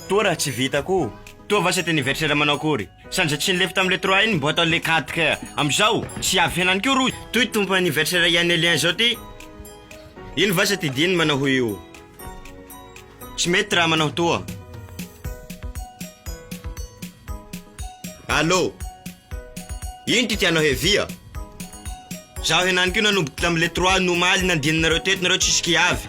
Toa raha tsy vita koa. Toa va cet anniversaire manao akory? Sandra tsy nilefy tamin'ilay trois iny ny boîte à lait quatre ka amin'izao tsy avy fiainany koa rohy. Toy ity tompo anniversaire i Anelien izao ity. Iny va cet Edine manao io? Tsy mety raha manao toa. Allô? Ino ity tianao hevia? Zaho henany koa nanomboka tamin'ilay trois no omaly nandininareo teto nareo tsisy kiavy.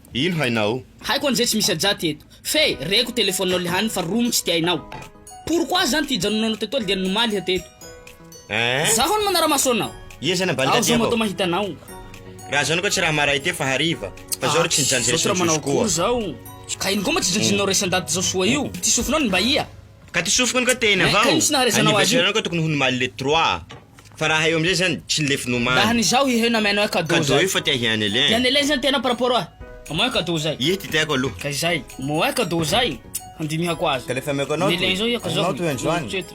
Ino hainao? Haiko anizay tsy misy ajaty eto fe reko telefoninao le hany fa romy tsy tiainao pourquoi zany ty hijanonanao teto aly dia ny nomaly iha teto Eeh. Zaho no manaramaso anao Iha zany ambany Aho zao matoa mahita anao. Raha zany koa tsy raha maray te fa hariva fa zao ry tsy nijanjy Zao tsy raha manao akory resin'jozokoa. zao Ka ino koa mba tsy jinjininao resin-daty zao soa io Ty sofinao ny mba iha. Ka ty sofiko iny koa te iny Hein, ka avao ino tsy naharezanao Anniversaire-nao koa tokony ho ny maly le trois. Fa raha eo amizay zany tsy lefy nomany. Raha ny zaho ihe na meno eka do zay. Cadeau io fa tia hiany elen. Tiany elen zany tena par rapport oa mo eka do zay. Ie ty tiako aloha. Ka izay mo eka do zay handinihako azy. Ka lefy ameko anao toy. Ny elen zao eka zao. Anao toy andro any.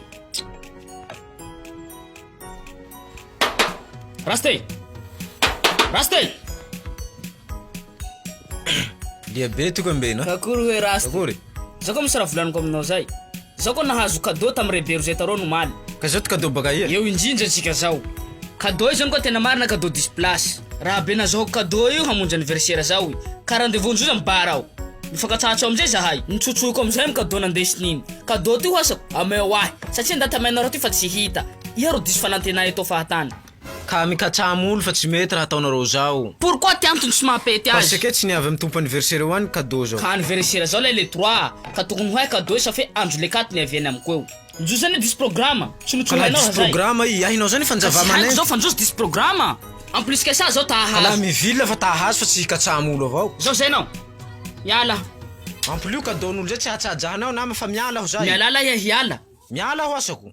Rasta e! Rasta e! Lia be ty ko ambeno a. Akory hoe rasta. Akory. Zao ko misy raha volaniko aminao zay. Zao ko nahazo cadeau tam re berozeta ron omaly. Ka zao ty cadeau baka aia? Eo indrindra antsika zao. Cadeau izany koa tena marina cadeau diso place. Raha be nazahoako cadeau io hamonjy anniversaire zaho io ka rendez-vous nzoza mibar aho. Mifankatsahatso amizay zahay. Nitsotsoiko amizay am cadeau nandesiny iny. Cadeau ty ho asako? Ameo ahy. Satria ndaty amainareo ty fa tsy hita. Iha ro diso fanantena eto fahatany. Ka mikatsaha molo fa tsy mety raha ataonareo zao. Pourquoi ty antony tsy mampety azy. Parce que tsy ny avy am tompo anniversaire eo any cadeau zao. Ka anniversaire zao lay le trois ka tokony ho hay cadeau sa fe andro le quatre ny avy any amiko eo. Njo zany diso programa, tsy no tsy ho Kala hainao diso hazay. programa i hainao zany Ka fanjava tsy haiko manenty. zao fa njo diso programa. En plus ksa zao ta Kala hahazo. mivila fa ta hahazo fa tsy hikatsaha molo avao. Zao zay nao. Miala. En plus cadeau nolo zay tsy hahatsaha jahanao nama fa miala aho zay. Mialala iha hiala. Miala aho asako.